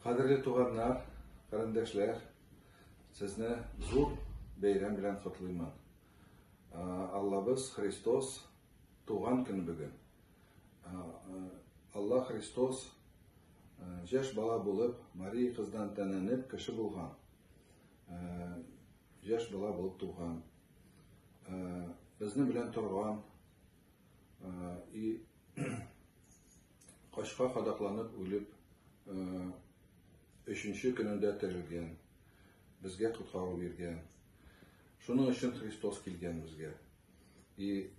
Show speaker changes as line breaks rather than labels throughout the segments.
Кадерле туганнар, карендәшләр, сезне зур бәйрәм белән котлыймын. Аллабыз Христос туган көн бүген. Алла Христос жаш бала булып, Мария кыздан тәнәнеп, кеше булган. Жаш бала булып туган. Безнең белән торган и Качка кадакланып үлеп, өченче көнендә терелгән, безгә коткару биргән. Шуның өчен Христос килгән безгә. И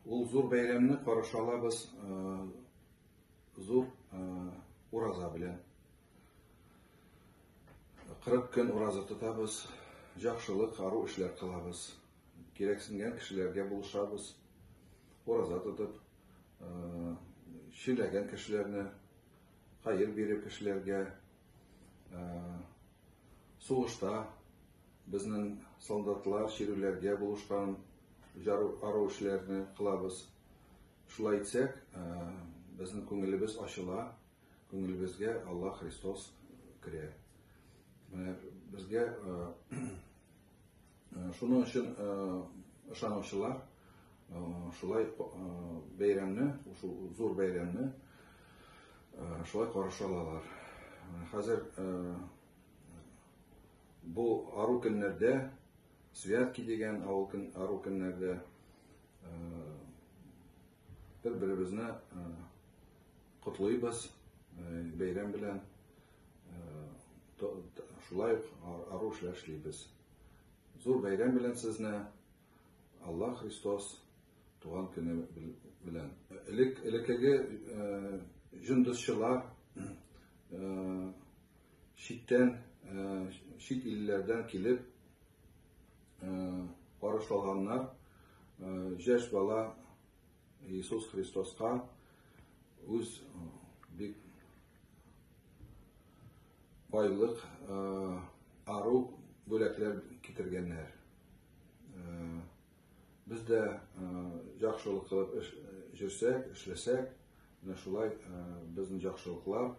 ул зур бәйрәмне каршы алабыз зур ураза белән. 40 көн ураза тотабыз, җакшылык, ару эшләр кылабыз. Кирәксенгән кешеләргә булышабыз. Ураза тотып, чиләгән кешеләрне, хәер биреп кешеләргә, сугышта безнең солдатлар чирүләргә булышкан ару эшләрне кылабыз. Шулай итсәк, безнең күңелебез ачыла, күңелебезгә Алла Христос керә. Менә безгә Шуның өчен ышанучылар шулай бәйрәмне, шул зур бәйрәмне шулай караша алалар. Хәзер бу ару көннәрдә Святки дигән авыл көн ару көннәрдә Бер-беребезне котлыйбыз бәйрәм белән. Шулай ук ару эшләр эшлибез. Зур бәйрәм белән сезне! Алла Христос туган көне белән. Элек элекеге җондызчылар читтән, чит илләрдән килеп, Карыш алганнар җәш бала Иисус Христоска үз бик байлык, ару бүләкләр китергәннәр. Без дә яхшылык кылып җөрсәк, эшләсәк, менә шулай безнең яхшылыклар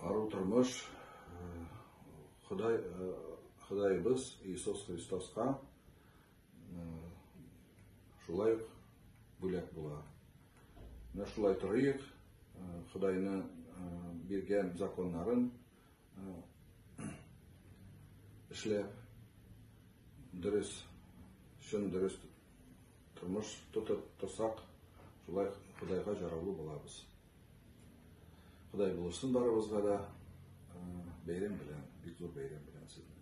Ару тормыш Ходай, Ходаебыз Иисус Христоска шулай ук бүләк була. Менә шулай торыйк, Худайны биргән законнарын эшләп, дөрес, чын дөрес тормыш тотып торсак, шулай Худайга жараулы булабыз. Ходай булышсын барыбызга да. Бәйрәм белән, бик зур бәйрәм белән сезне.